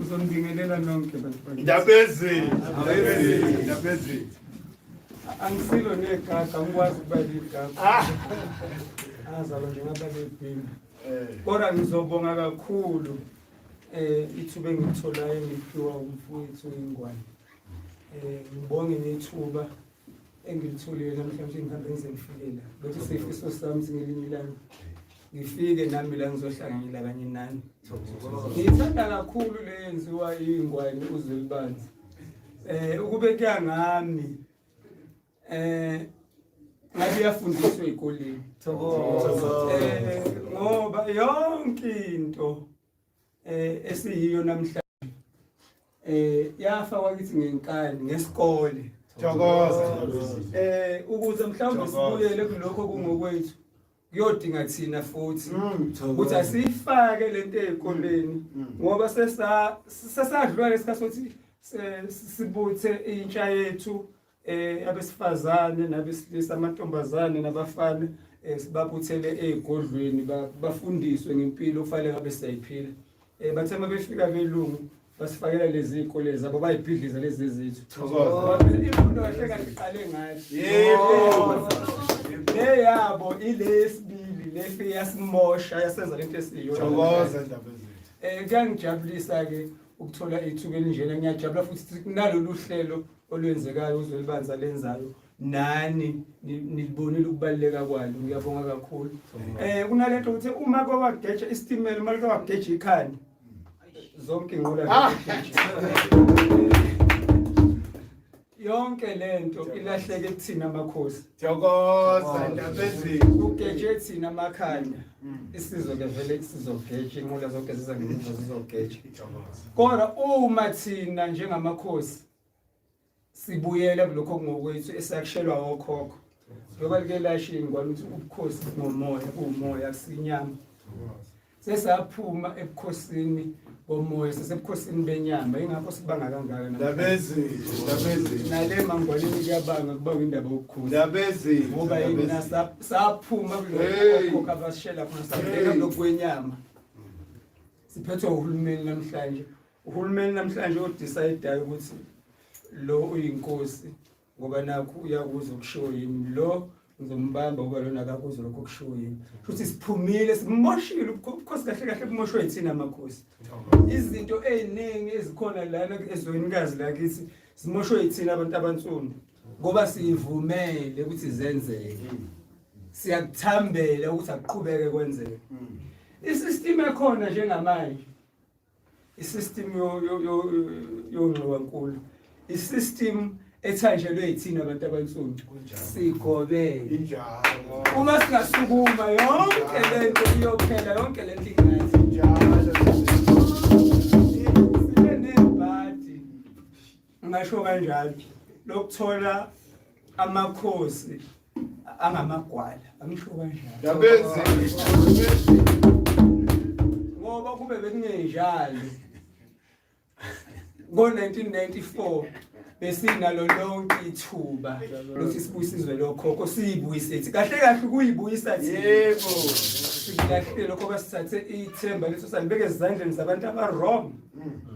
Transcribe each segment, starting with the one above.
uzonibingelela nonke bantu bakithi. Ndabezini. Ndabezini. Ndabezini. angisilo negaga angikwazi ukuba ligaga Ah. azalwa nje ngaba lebhini Eh. kodwa ngizobonga kakhulu um ithuba engilitholayo ngiphiwa umfowethu ingwane um ngibonge nethuba engilitholile namhlanje ngihambe ngize ngifike la bethi sifiso sami singelinye ilanga ngifike nami la ngizohlanganyela kanye nani ngiyithanda kakhulu le yenziwa iy'ngwane uzwelibanzi um eh, ukubeka ngami um ngabe iyafundiswa ey'koleni um ngoba yonke into eh esiyiyo namhlanje eh yafa wakithi ngenkani ngesikole Thokoza. eh ukuze mhlawumbe Thokoza. sibuyele kulokho kungokwethu kuyodinga thina futhi Mm. ukuthi asiyifake lento ezikoleni Mm. ngoba sesa sesadlula lesikhathi sokuthi se- sibuthe intsha yethu eh abesifazane nabesilisa amantombazane nabafana eh, sibabuthele ezigodlweni bafundiswe ngempilo ofanele ngabe siyayiphila eh bathe uma befika belungu basifakela lezi ikole zabo bayibhidliza lezi zethu imfundo kahle kahle iqale ngayo yebo le yabo ile esibili le fe yasimosha yasenza lento esiyo thokoza indaba ezethu eh kuyangijabulisa ke ukuthola ithuba elinjena ngiyajabula futhi kunalolu hlelo olwenzekayo uzwelibanzi alenzayo nani nilibonile ukubaluleka kwalo ngiyabonga kakhulu um kunale nto ukuthi uma kwawageja isitimela uma like wageja ikhanda zonke inqola ah! yonke le nto ilahleke kuthina amakhosi kugeje thina amakhanda mm. isizwe ke vele sizogeja inqola zonke ziza ngemuva zizogeja kodwa uma thina njengamakhosi sibuyele kulokho kungokwethu esakushelwa wokhokho njengoba like lasho ingwane ukuthi ubukhosi bungomoya buwumoya akusinyama sesaphuma ebukhosini bomoya sesebukhosini benyama ingakho sibanga kangaka nale mangwaneni kuyabanga kubanga indaba yokukhulungoba yini saphuma kulokhokho abasishela khona sabeka lokwenyama siphethwe uhulumeni namhlanje Uhulumeni namhlanje odisayidayo ukuthi lo uyinkosi ngoba nakho uyakuza ukushiwo yimi lo ngizombamba uba lona akakuze lokho kushiwo yini futhi siphumile sikumoshile ubukhosi kahle kahle bumoshwe yithina amakhosi izinto ey'ningi ezikhona lana ezwenikazi lakithi zimoshwe yithina abantu abansundu ngoba siyivumele ukuthi zenzeke siyakuthambela ukuthi akuqhubeke kwenzeke isystem ekhona njengamanje isystem yongxiwankulu isystem ethanjelwe yithina abantu abansundu sigobele uma singasukuma yonke lento iyophela yonke lento ingathi njalo ngasho kanjalo lokuthola amakhosi angamagwala angisho kanjalo ngoba kube bekungenjalo ngo-1994 besinalo lonke ithuba lokuthi sibuyisizwe lokhokho siyibuyise thi kahle kahle ukuyibuyisa thi yebo sikahle lokho basithathe ithemba leso salibeke ezandleni zabantu abarong mm.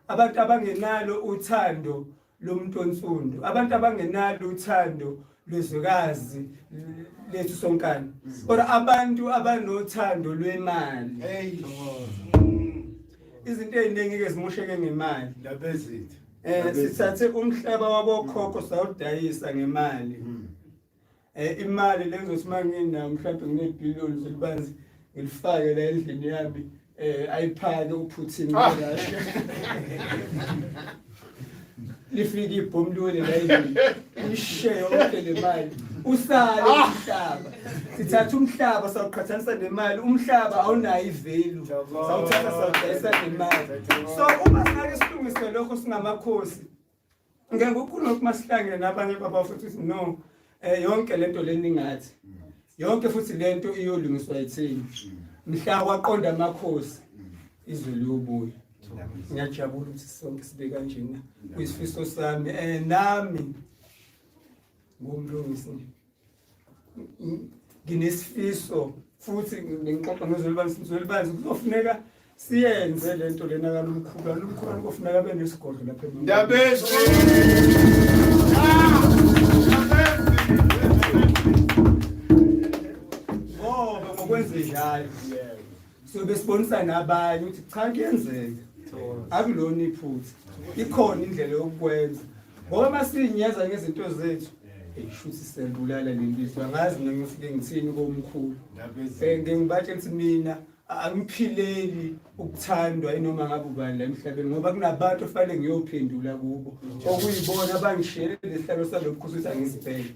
abantu abangenalo uthando lomuntu onsundu abantu abangenalo uthando lwezwekazi lethu sonkana or abantu abanothando lwemali izinto eziningi ke zimusheke ngemali labezithi eh sithathe umhlaba wabokhokho sawudayisa ngemali hmm. Eh, imali lengizothi uma nginayo mhlawumbe nginebhiliyoni zelibanzi ngilifake la endlini yami um ayiphake uphuthin ah. lifike ibhomu liwele la endlini lishe yonke le mali usale ah. umhlaba sithatha umhlaba sawuqhathanisa nemali umhlaba awunayo ivelu sawuthatha sawudayisa nemali so uma sinake silungise lokho singamakhosi ngeke ukhulume ukuthi masihlangene nabanye babafowethu ukuthi no um yonke le nto le ningathi yonke futhi le nto iyolungiswa yithini mhla waqonda amakhosi izwe liyobuya ngiyajabula ukuthi sonke sibe kanjena kuyisifiso sami um nami ngumlungisi nginesifiso futhi ngixoxa nozwelibani sizwelibani kuzofuneka siyenze le nto lena kalumkhulu alumkhulu kuzofuneka abe nesigodlo lapha ndabezi ngoba ngokwenzenjalo so besibonisa nabanye ukuthi cha kuyenzeka akulona iphutha ikhona indlela yokukwenza ngoba uma siyinyeza ngezinto zethu shuthi siyalibulala lelizwe angazi mina ngifike ngithini komkhulu um ngibatshela ukuthi mina angiphileli ukuthandwa inoma ngabe ubani la emhlabeni ngoba kunabantu ofanele ngiyophendula kubo okuyibona abangishiyele lesihlalo salobukhosi ukuthi angizibhele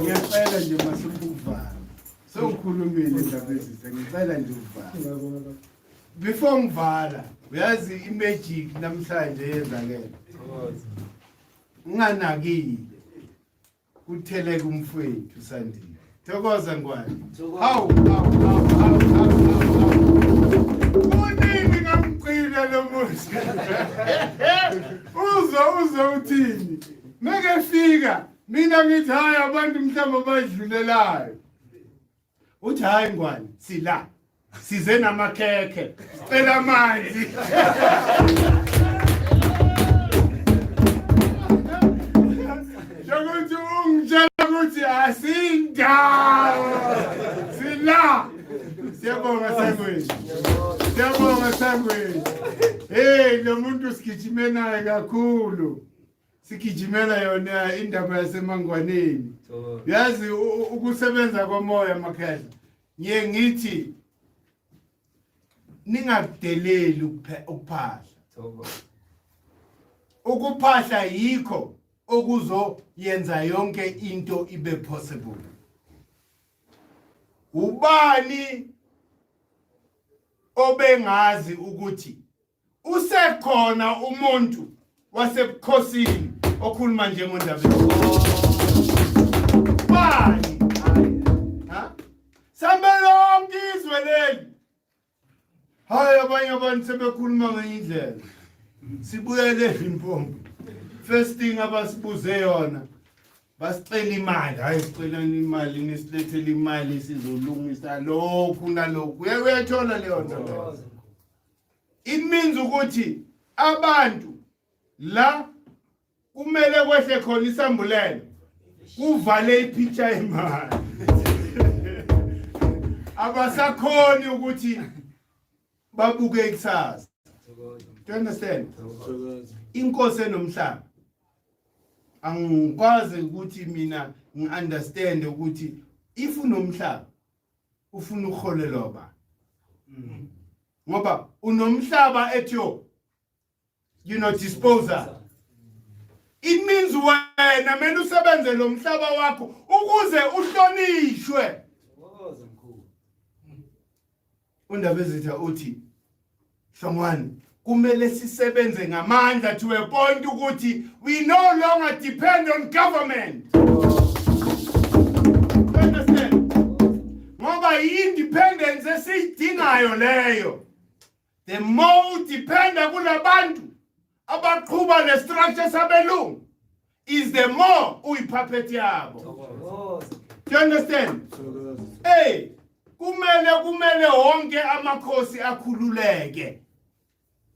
ngiyacela nje masifukuvana sewukhulumile indaba ezitha ngicela nje ukuvala before ngivala uyazi imagic namhlanje yenzakele nginganakile kutheleka umfwethu sandile thokoza ngwane hawu kunini ngamgcina lo muzi uze uze uthini mekefika mina ngithi hayi abantu mhlawumbe abayidlulelayo uthi hayi ngwane sila size namakhekhe sicela amanzi njengokuthi ungitshela ukuthi asindawo sila siyabonga sangweni siyabonga sangweni heyi lo muntu sigijime naye kakhulu sigijimela yona indaba yasemangwaneni yazi ukusebenza komoya makhehla ngiye ngithi ningakudeleli ukuphahla ukuphahla yikho okuzoyenza yonke into ibe possible ubani obengazi ukuthi Usekhona umuntu wasebukhosini okhuluma nje ngondabe. Bani? Ha? Sambe lonke izwe leli. Hayi abanye abantu sebekhuluma ngenye indlela. Sibuyele impompo. First thing abasibuze yona basicela imali hayi sicelani imali nisilethele imali sizolungisa lokhu nalokhu uye uyayithola leyo nto it means ukuthi abantu la kumele kwehle khona isambulelo kuvale ipicture imali abasakhoni ukuthi babuke ikusasa do you understand inkosi enomhlaba angikwazi ukuthi mina ngiunderstand ukuthi if unomhlaba ufuna uholelwa ba mm. ngoba unomhlaba at your you know disposal it means wena mena usebenze lo mhlaba wakho ukuze uhlonishwe UNdabezitha uthi Hlongwane kumele sisebenze ngamandla to a point ukuthi we no longer depend on government. Ngoba i-independence esiyidingayo leyo. The more udependa kulabantu abaqhuba le structure sabelungu is the more uyipuppet yabo do you understand hey kumele kumele wonke amakhosi akhululeke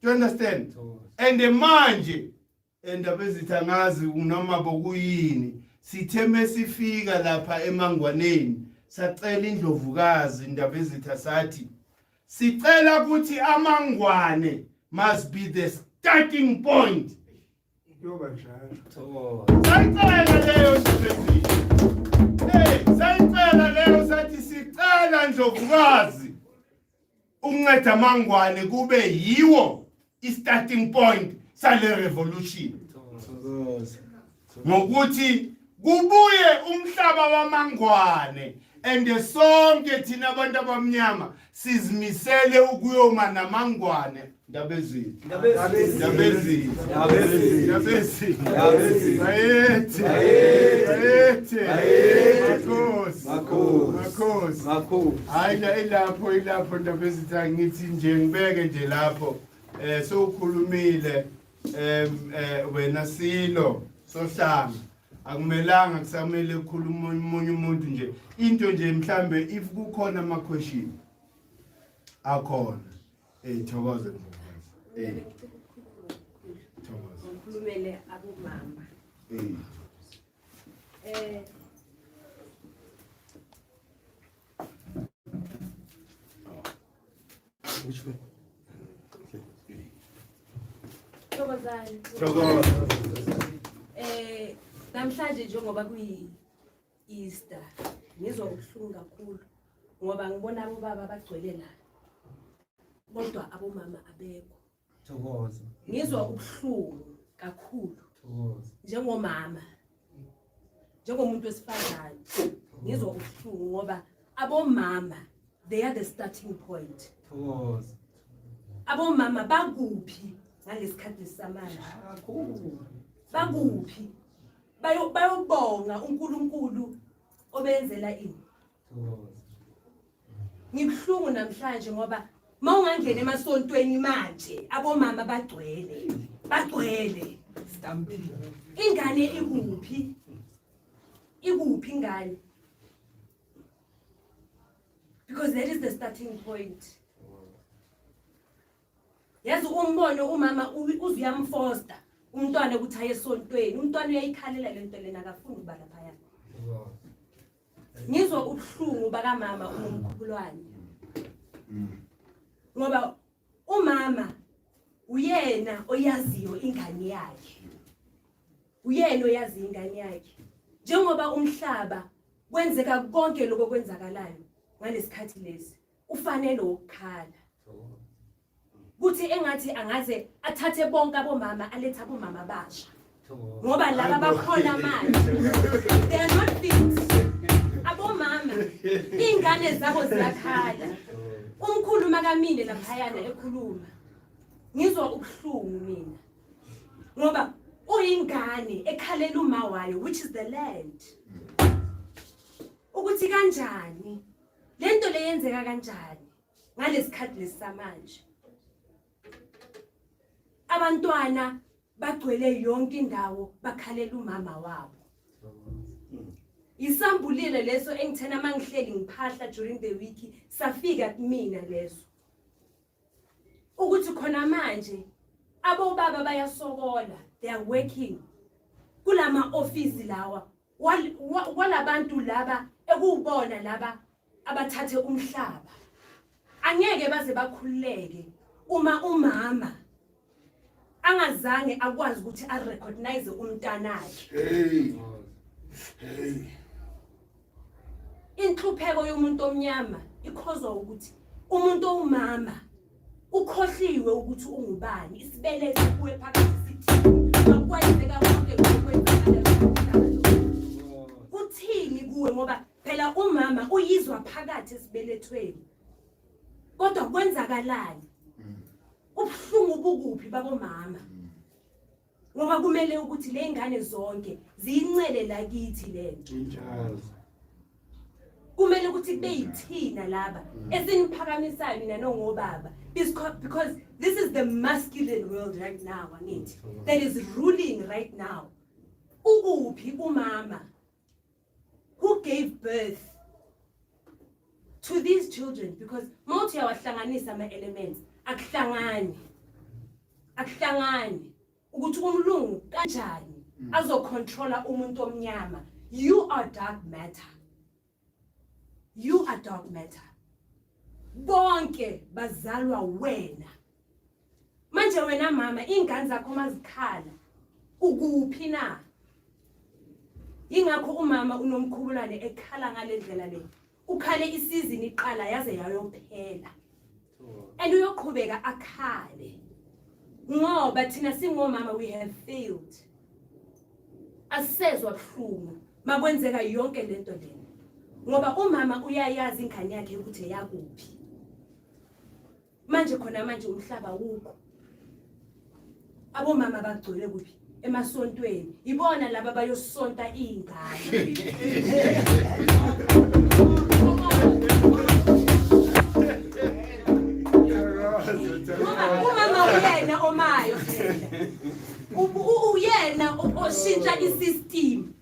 do you understand and manje endaba ezithi angazi noma bokuyini sithe mesifika lapha emangwaneni sacela indlovukazi indaba ezitha sathi Sicela ukuthi amangwane must be the starting point. Yoba njalo. Sayicela leyo nje. Hey, sayicela leyo sathi sicela Ndlovukazi ukunceda amangwane kube yiwo i-starting point sale revolution ngokuthi kubuye umhlaba wamangwane and sonke thina abantu abamnyama sizimisele ukuyoma namangwane ndabezini ndabezini ndabezini ndabezini ndabezini ayethe ayethe ayethe makhosi makhosi makhosi hayi la ilapho ilapho ndabezini angithi nje ngibeke nje lapho eh sewukhulumile em eh, wena silo sohlanga akumelanga kusamele ukukhuluma umunye umuntu nje into nje mhlambe if kukhona ama question akhona eh thokoze eh thokoze ukhulumele abomama eh eh Eh namhlanje njengoba kuyi Easter ngizwa ubuhlungu kakhulu ngoba ngibona abobaba abagcwele la kodwa abomama abekho Thokoza. Ngizwa ubuhlungu kakhulu. Thokoza. Njengomama. Njengomuntu wesifazane. Ngizwa ubuhlungu ngoba abomama they are the starting point. Thokoza. Abomama bakuphi ngaleskhathi samanje? Kakhulu. Bakuphi? Bayo bayobonga uNkulunkulu obenzela ini? Ngibuhlungu namhlanje ngoba mawungangena emasontweni manje abomama bagcwele bagcwele stampede ingane ikuphi ikuphi ingane because that is the starting point yazi umbono umama uzuyamfosta umntwana ukuthi aye esontweni umntwana uyayikhalela le nto lena akafuni ukuba laphayana ngizwa ubuhlungu bakamama unomkhubulwane ngoba umama uyena oyaziyo ingane yakhe uyena oyazi ingane yakhe njengoba umhlaba kwenzeka konke lokho kwenzakalayo ngalesikhathi lesi ufanele ukukhala kuthi engathi angaze athathe bonke abomama alethe abomama abasha ngoba laba bakhona manje they are not fit abomama iy'ngane zabo ziyakhala umkhulu makamile laphayana ekhuluma ngizwa ubuhlungu mina ngoba uyingane ekhalela uma wayo which is the land ukuthi kanjani le nto le yenzeka kanjani ngalesikhathi lesamanje abantwana bagcwele yonke indawo bakhalela umama wabo isambulile leso engithena mangihleli ngiphahla during the week safika kumina leso ukuthi khona manje abobaba bayasokola they are working kulama office lawa kwalabantu laba ekuwubona laba abathathe umhlaba angeke baze bakhululeke uma umama angazange akwazi ukuthi arecognize umntanakhe hey hey inhlupheko yomuntu omnyama ikhozwa ukuthi umuntu owumama ukhohliwe ukuthi ungubani isibeletho kuwe phakathi sithini makwayizeka konke kuthini kuwe ngoba phela umama uyizwa phakathi esibelethweni kodwa kwenzakalani ubuhlungu bukuphi babomama ngoba kumele ukuthi ley'ngane zonke ziyincele lakithi le nto kumele ukuthi kube yithina laba mm. esiniphakamisayo nina nongobaba because this is the masculine world right now angithi mm. that is ruling right now ukuphi umama who gave birth to these children because mawuthi uyawahlanganisa ama-elements akuhlangani akuhlangani ukuthi umlungu kanjani mm. azocontrola umuntu omnyama you are dark matter you are dark matter bonke bazalwa wena manje wena mama iy'ngane zakho uma zikhala ukuphi na yingakho umama unomkhubulane ekhala ngale ndlela le ukhale isizini iqala yaze yayophela and uyoqhubeka akhale ngoba thina singomama we have failed asisezwa buhlungu makwenzeka yonke lento lena ngoba umama uyayazi ingane yakhe ukuthi eyakuphi manje khona manje umhlaba wukho abomama bagcwele kuphi emasontweni ibona laba bayosonta iy'ngane uyena oshintsha i-system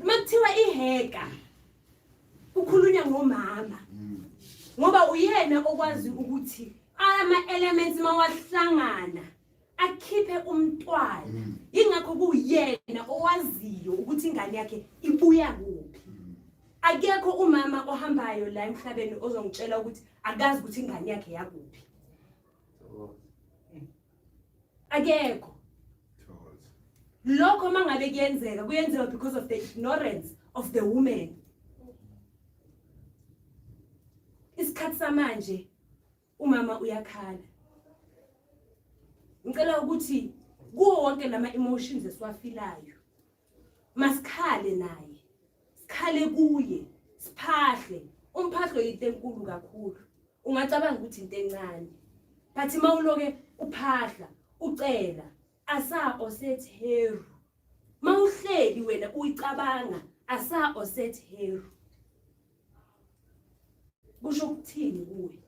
uma kuthiwa iheka ukhulunya ngomama mm. ngoba uyena okwazi ukuthi ama elements mawahlangana akhiphe umntwana mm. ingakho kuyena owaziyo ukuthi ingane yakhe ibuya kuphi mm. akekho umama ohambayo la emhlabeni ozongitshela ukuthi akazi ukuthi ingane yakhe yakuphi akekho lokho uma ngabe kuyenzeka kuyenzeka because of the ignorance of the woman isikhathi samanje umama uyakhala ngicela ukuthi kuwo wonke lama emotions esiwafilayo masikhale naye sikhale kuye siphahle umphahlo yinto enkulu kakhulu ungacabanga ukuthi into encane but uma uloke uphahla ucela asa oset heru ma uhleli wena uyicabanga asa oset heru kusho ukuthini kuwe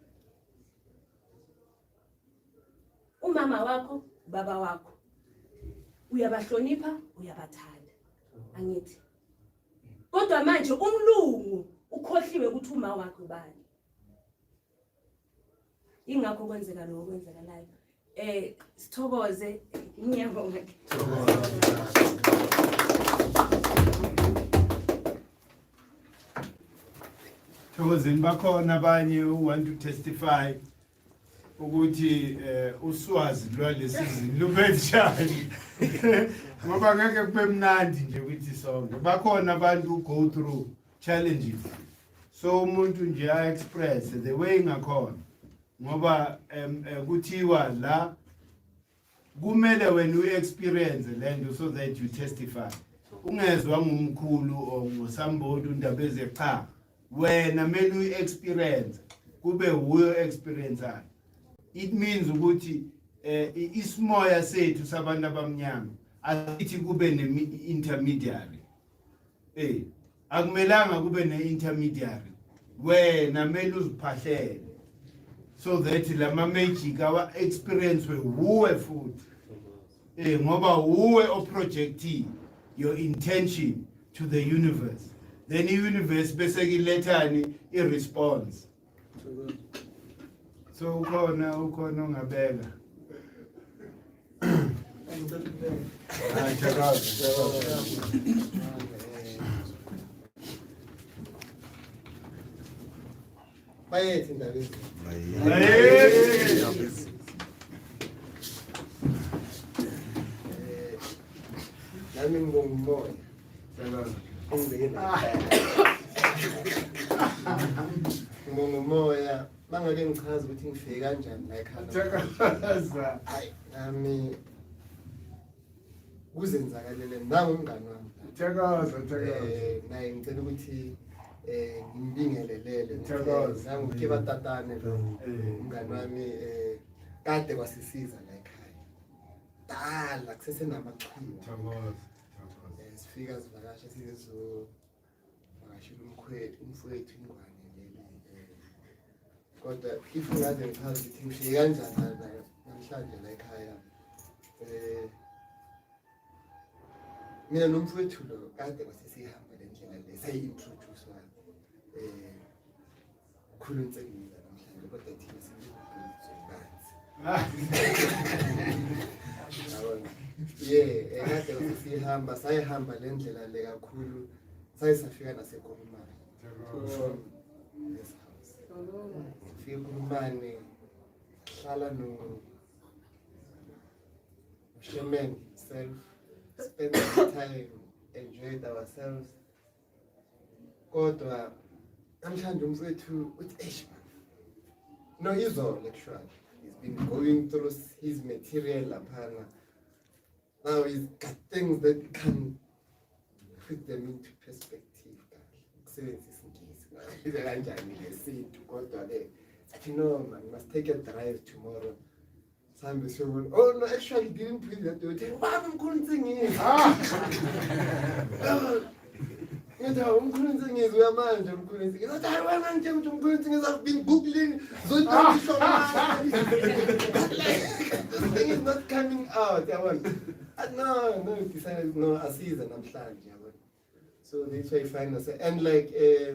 umama wakho ubaba wakho uyabahlonipha uyabathanda angithi kodwa manje umlungu ukhohliwe ukuthi uma wakhe ubani ingakho kwenzeka lokho kwenzekalayo eh sithokoze ngiyabonga Thokozini bakhona abanye u want to testify ukuthi eh uswazi lwalesi zini lubenjani ngoba ngeke kube mnandi nje ukuthi sonke bakhona abantu go through challenges so umuntu nje a express the way ngakhona ngoba eh, kuthiwa la kumele wena uexperience lento so that you testify ungezwa ngumkhulu or ngosambodi undaba eze cha wena mele uexperience kube wuyo experience it means ukuthi eh isimoya sethu sabantu abamnyama asithi kube ne intermediary eh akumelanga kube ne-intermediary wena mele uziphahlele so that la ma-magic awa-experience-we wuwe futhi um ngoba wuwe oprojectile your intention to the universe then i-universe bese kilethani i-response so ukhona ukhona ongabeka Ay, qué raro. Bayethe ndaba ezi. Nami ngibonga umoya. ngibonga umoya bangake ngichaza ukuthi ngifike kanjani la ekhanda ayi nami kuzenzakalele nangu umngani wami thokoza thokoza eh, naye ngicela ukuthi eh ngimbingelelele thokoza nangu ke batatane lo eh. umngani wami eh kade kwasisiza la ekhaya dala kusesenamachilo thokoza Eh, sifika zivakashe sizovakashela umkhwethu umfowethu ingwane leli eh, kodwa if ngaze ngichaza ukuthi ngifike kanjani namhlanje la ekhaya um mina nomfowethu lo kade kwasesihamba le ndlela le sayi-introduce Ukhulu nsengile namhlanje kodwa thina singibhuthu banzi. Yeah, ekade usihamba sayihamba le ndlela le kakhulu saye safika naseKhulumane. Yes. Fika ukhulumane hlala no Shemen self spend time enjoyed ourselves kodwa namhlanje umfowethu uthi eish no izolo actually he's been going through his material laphana now he's got things that can put them into perspective kahle ukusebenzisa ingisi ngabiza kanjani lesintu kodwa-ke athi no man must take a drive tomorrow Sambe siyobona. Oh no, actually didn't bring that door. Tell baba mkhulu nsingini. Ah. Ngithi hawu mkhulu nsingini uya manje mkhulu nsingini. Ngithi hayi wena ngithe ukuthi mkhulu nsingini I've been googling zodwa isho manje. This thing is not coming out. Yabona. Ah, No, no, decided no asiza namhlanje yabona. So that's why I find us and like uh,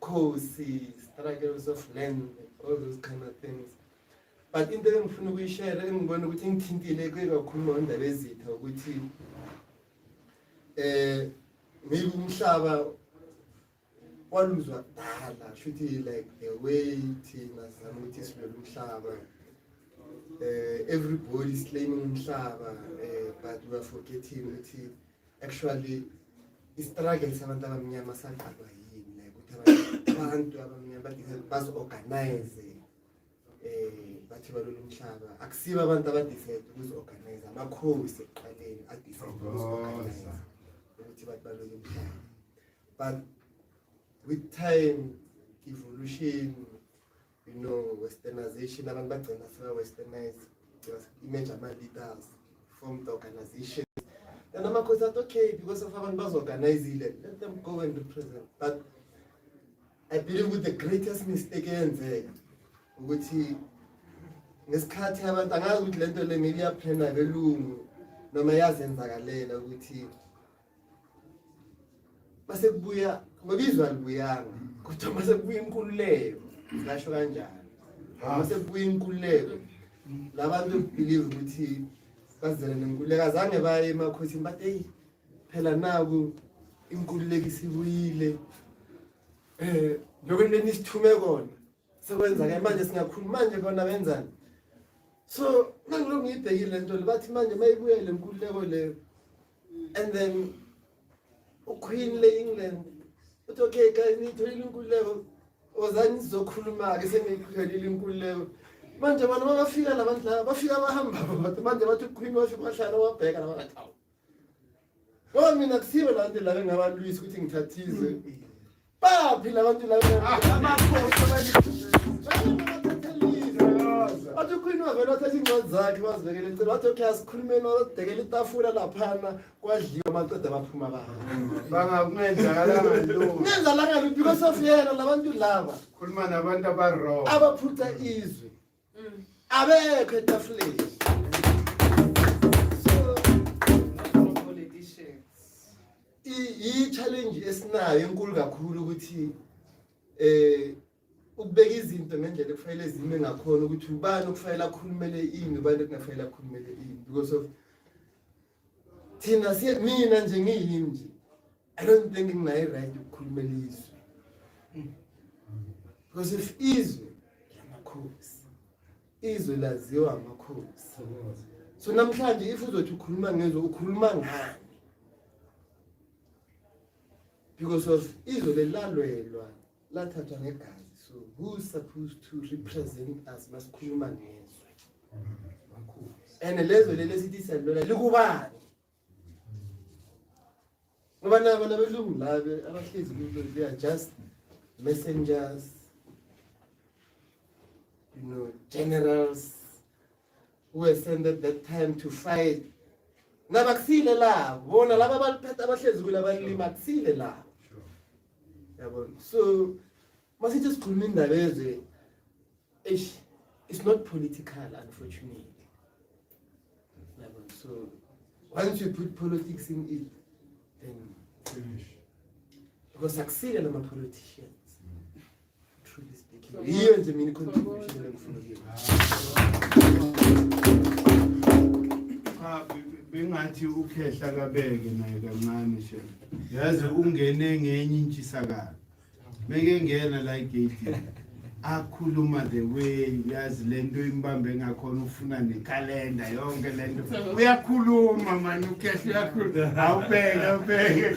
Khosi, struggles of land, all those kind of things. But into engifuna ukuyishare engibona ukuthi ngithintile kuye kakhulu ngondaba ezitha ukuthi eh maybe umhlaba waluzwa kudala shuthi like the way thina sizama ukuthi silwele umhlaba uh, everybody is claiming umhlaba uh, but we are forgetting ukuthi actually i-struggle sabantu abamnyama saqalwa yini like ukuthi abantu abamnyama badinga bazi-organize eh bathi balolu mhlaba akusibo abantu abadecide ukuzi-organize amakhowi sekuqaleni adecide ukuzi-organize ukuthi bathi balolu mhlaba but with time evolution you know westernization abantu bagcina seba westernize image ama-leaders form the organization and amakhosi athi okay because of abantu bazo-organizile let them go and represent but i believe with the greatest mistake eyenzeka ukuthi ngesikhathi abantu angazi ukuthi le nto le maybe iyaphena belungu noma yazenzakalela ukuthi Mase kubuya ngoba izwe alibuyanga kodwa mase kubuya inkululeko ngasho kanjalo. Mase kubuya inkululeko labantu believe ukuthi bazele nenkululeko azange baye emakhosini bathi hey phela naku inkululeko isibuyile eh nokweneni isithume kona sekwenza ke manje singakhuluma manje bona benzani so mangilokhu ngiyibhekile lento bathi manje mayibuyele inkululeko leyo and then uqueen le-england uthi okay guys niyitholile inkululeko wozani sizokhuluma-ke seniyitholile inkululeko manje abantu babafika la bantu laba bafika abahambabo bathi manje bathi uqueen wafika wahlala wabheka laba ngathi awu ngoba mina kusibe la nto la bengabalwisi ukuthi ngithathize Baphi labantu laba? Amakhosi athi ukhulini wavele wathatha iincwadi zakhe wazibekela eceleni wathi okay asikhulumeni wadekela itafula laphana kwadliwa amaqeda abaphuma babo bangakungenzakalangalokungenzalangaluphi because of yena labantu laba khuluma nabantu abarong abaphuca izwi Mm. Abekho etafuleni. i-challenge esinayo enkulu kakhulu ukuthi eh ukubeka izinto ngendlela ekufanele zime ngakhona ukuthi ubani okufanele akhulumele ini ubani okunafanele akhulumele ini because of thina siye mina nje ngiyimi nje i don't think nginayi right ukukhulumela izwe because if izwe lamakhosi izwe laziwa amakhosi so namhlanje if uzothi ukhuluma ngezwe ukhuluma ngani because of izwe lelalwelwa lathathwa ngegazi so who's supposed to represent us masikhuluma ngezwe and lezwe leli esithi siyalilwela likubani ngoba nabo nabelungu labe abahlezi kulo they are just messengers you know generals who were sent at that time to fight ngabakusile labo bona laba baliphethe abahlezi kula balima kusile labo yabona so masithi sikhuluma indaba eze eish it's not political unfortunately yabona so once you put politics in it then finish because akusile lama politicians Yiyo nje mina i-contribution engifuna bengathi ukhehla kabeke naye kancane she yazi ungene ngenye intshisakalo beke ngena la igate akhuluma the way yazi lento imbambe ngakhona ufuna nekalenda yonke lento uyakhuluma mani ukhehla uyakhuluma awubeke awubeke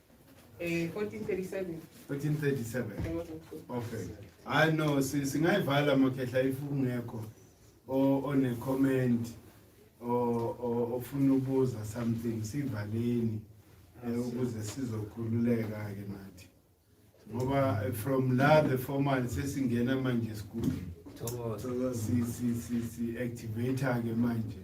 Eh 1437. 1437. Okay. Hayi no si- singayivala makhehla if ungekho o- one comment o- o- ofuna ubuza something sivaleni eh, ukuze sizokhululeka ke nathi. Ngoba eh, from la the formal sesingena manje school. Thokoza. Si si si si activate ke manje.